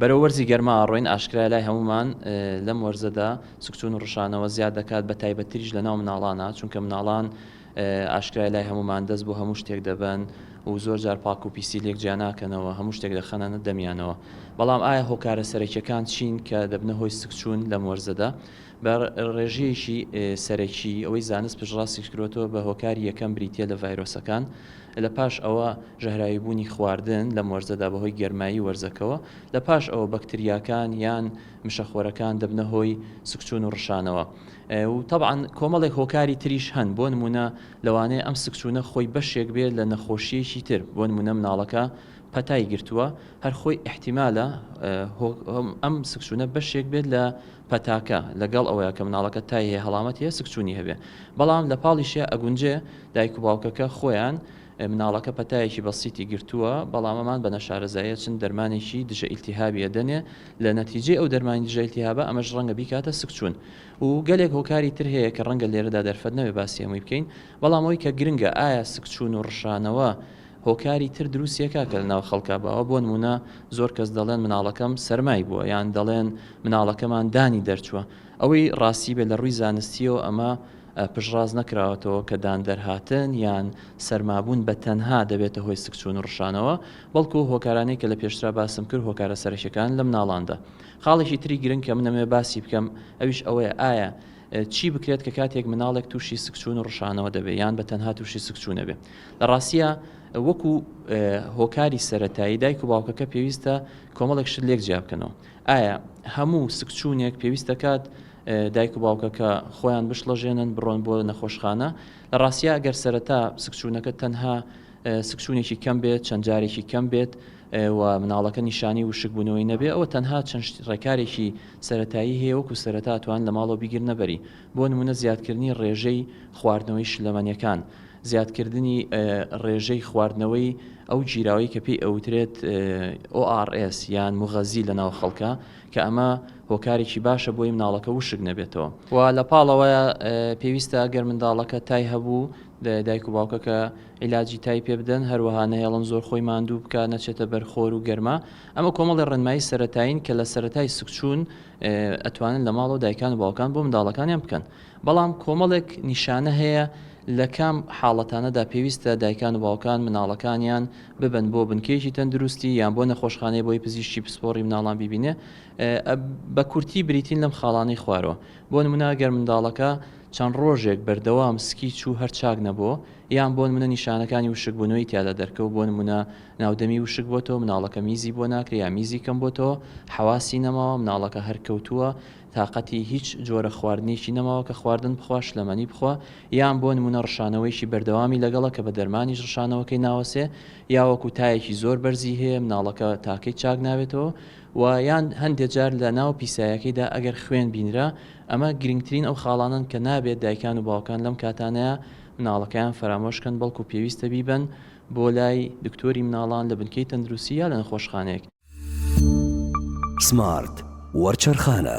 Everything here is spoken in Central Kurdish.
بەرەو وەرزی گەرما ئەڕۆین، ئاشکرایە لای هەموومان لەم وەرزەدا سکچوون و ڕشانەوە زیاد دەکات بە تایبەتتریش لەناو مناڵانا، چونکە مناڵان ئاشکرایە لای هەموومان دەست بۆ هەموو شتێک دەبەن و زۆر جار پاک و پیسی لێک جیا ناکەنەوە، هەموو شتێک دەخەنە دەمیانەوە. بەڵام ئایا هۆکارە سەرەکیەکان چین کە دەبنە هۆی سکچوون لەم وەرزەدا؟ بە ڕێژەیەکی سەرەکی ئەوەی زانست پشتڕاستی کردووەتەوە بە هۆکاری یەکەم بریتییە لە ڤایرۆسەکان، لە پاش ئەوە ژەهراویبوونی خواردن لەم وەرزەدا بەهۆی گەرمایی وەرزەکەوە، لە پاش ئەوە بەکتریاکان یان مشەخۆرەکان دەبنە هۆی سکچوون و ڕشانەوە و تەبعەن کۆمەڵێک هۆکاری تریش هەن بۆ نموونە لەوانەیە ئەم سکچوونە خۆی بەشێک بێت لە نەخۆشییەکی تر بۆ نموونە مناڵەکە پەتای گرتووە هەر خۆی ئیحتیمالە ئەم سکچوونە بەشێک بێت لە پەتاکە، لەگەڵ ئەوەیا کە مناڵەکەت تای هەیە هەڵامەتی هەیە سکچوونی هەبێ بەڵام لە پاڵیشیا ئەگونجێ دایک و باوکەکە خۆیان مناڵەکە پەتایەکی بەسیتی گرتووە بەڵام ئەمان بە نەشارەزایی ئەچن دەرمانێکی دژە ئیلتیهابی ئەدەنێ لە نەتیجەی ئەو دەرمانی دژە ئیلتیهابە ئەمەش ڕەنگە بیکاتە سکچوون و گەلێک هۆکاری تر هەیە کە ڕەنگە لێرەدا دەرفەت نەبێ باسی هەمووی بکەین بەڵام ئەوەی کە گرنگە ئایا سکچوون و ڕشانەوە هۆکاری تر دروستیە کاکە لەناو خەڵکا باوە بۆ نمونە زۆر کەس دەڵێن مناڵەکەم سەرمای بووە یان دەڵێن مناڵەکەمان دانی دەرچووە ئەوەی ڕاستی بێ لە ڕووی زانستیەوە ئەمە پشڕاست نەکراوەتەوە کە دان دەرهاتن یان سەرمابوون بە تەنها دەبێتە هۆی سکچوون و ڕشانەوە بەڵکو هۆکارانەی کە لە پێشترا باسم کرد هۆکارە سەرەکیەکان لە مناڵاندا خاڵێکی تری گرنگ کە منەمەوێ باسی بکەم ئەویش ئەوەیە ئایا چی بکرێت کە کاتێک مناڵێک تووشی سکچوون و ڕشانەوە دەبێ یان بە تەنها تووشی سکچوونەبێ لە ڕاستیا وەکو هۆکاری سەرەتایی دایک و باوکەکە پێویستە کۆمەڵێک شت لێک جیا بکەنەوە ئایا هەموو سکچوونێک پێویستەکات دایک و باوکەکە خۆیان بشڵەژێنن بڕۆن بۆ نەخۆشخانە لە ڕاستیا گەر سەرەتا سکچوونەکە تەنها سکچوونێکی کەم بێت چەند جارێکی کەم بێت و مناڵەکە نیشانی وشکبوونەوەی نەبێ ئەوە تەنها چەند ڕێکارێکی سەتایی هەیە وەکو سەرەتاتوان لە ماڵەوە بیگرنەبەری بۆ نموونە زیادکردنی ڕێژەی خواردنەوەی شلەمەنێکان، زیادکردنی ڕێژەی خواردنەوەی ئەو گیراوەی کە پێی ئەوترێت ORS یان موغەزی لە ناو خەڵکە کە ئەمە هۆکارێکی باشە بۆی مناڵەکە وشک نەبێتەوە. و لە پاڵەوەیە پێویستە گەر منداڵەکە تای هەبوو دایک و باوکەکە عیلاجی تای پێ بدەن، هەروەها نەهێڵن زۆر خۆی ماندوو بکات نەچێتە بەر خۆر و گەرما، ئەمە کۆمەڵێ ڕێنمایی سەرەتایین کە لە سەرەتای سکچوون، ئەتوانن لە ماڵەوە دایکان و باوکان بۆ منداڵەکانیان بکەن بەڵام کۆمەڵێک نیشانە هەیە لە کام حاڵەتانەدا پێویستە دایکان و باوکان مناڵەکانیان ببن بۆ بنکەیەکی تەندروستی یان بۆ نەخۆشخانەی بۆی پزیشکی پسپۆڕی مناڵان بیبینێ بە کورتی بریتین لەم خاڵانەی خوارەوە بۆ نموناگەر منداڵەکە چەند ڕۆژێک بەردەوام سکی چوو هەر چاک نەبوو یان بۆ منە نیشانەکانی وشکبوونەوەی تیادا دەرکەوت بۆ نمونە ناودەمی وشک بۆتەوە مناڵەکە میزی بۆ ناکرێ یا میزی کەم بۆتەوە حەواسی نەماوە مناڵەکە هەر کەوتووە تاقەتی هیچ جۆرە خواردنێکی نەماوە کە خواردن بخوا شلەمەنی بخوا یان بۆ نمونە ڕشانەوەیەکی بەردەوامی لەگەڵە کە بە دەرمانیش ڕشانەوەکەی ناوەسێ یا وەکو تایەکی زۆر بەرزی هەیە مناڵەکە تاکەی چاک نابێتەوە و یان هەندێ جار لە ناو پیسایەکەیدا ئەگەر خوێن بینرا ئەمە گرنگترین ئەو خاڵانەن کە نابێت دایکان و باوکان لەم کاتانەیە مناڵەکەیان فەرامۆش کەن بەڵکو پێویستە بیبەن بۆ لای دکتۆری مناڵان لە بنکەی تەندروستی یا لە نەخۆشخانەیەک. سمارت وەرچەرخانە.